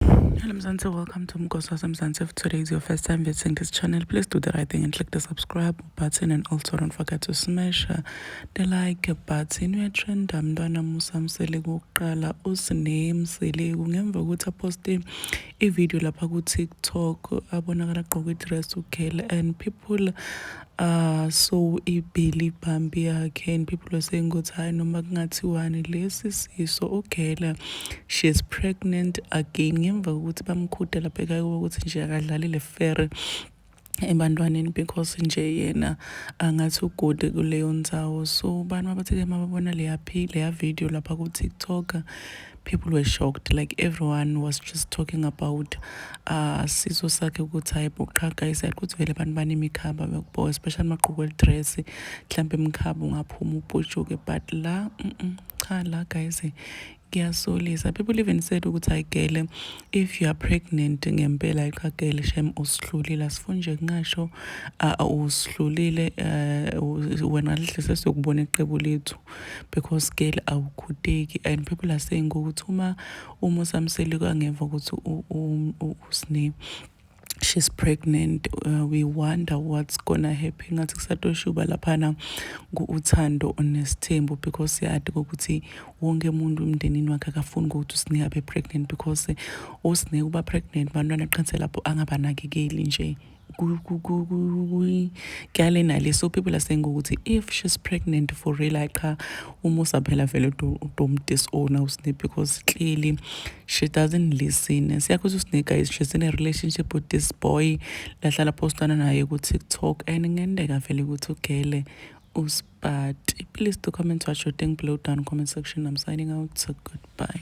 Hello Mzansi, welcome to Mgosi waseMzansi. If today is your first time visiting this channel, please do the right thing and click the subscribe button and also don't forget to smash the like button. Uyatrenda mntwana Musa Mseleku wokuqala uSine Mseleku ngemva kokuthi aposte ivideo lapha ku-TikTok abonakala agqoke idress uGirl and people Ah so ibheli bhambi yakhe and people are saying ukuthi hayi noma kungathiwani lesi siso ugela she is pregnant again ngemva kokuthi bamkhude lapha ekhaya ukuthi nje akadlali le fere ebantwaneni because nje yena angathi ugode kuleyo ndzawo so bantu abathi-ke uma babona leya leya video lapha ku-tiktok people were shocked like everyone was just talking about uh siso sakhe ukuthi hayi bo qha guys ukuthi vele abantu banemikhaba bekubo especially maqhuku elidress mhlawumbe imikhaba ungaphuma uputshuke but la mm -mm, cha la guys kuyasolisa people even said ukuthi ayigele if you are pregnant ngempela iqagele shem usihlulile asifuni nje kungasho usihlulile eh, wena lihle sesiyokubona iqebu lethu because girl awukhuteki and people are saying ukuthi uma uma usamsele kwangemva ukuthi usne she's pregnant uh, we wonder what's gonna happen ngathi kusatoshuba laphana ku-uthando onesithembu because siyadi kokuthi wonke umuntu emndenini wakhe akafuni ukuthi usine abe pregnant because usine uba pregnant bantwana qanse lapho angabanakekeli nje kyale nale so people are saying ukuthi if she's pregnant for real ay cha umusa phela vele don't disown usne because clearly she doesn't listen siyakhuza usne guys she's in a relationship with this boy lahlala postana naye ku TikTok and ngendeka vele ukuthi ugele uspati please do comment what you think below down comment section i'm signing out so goodbye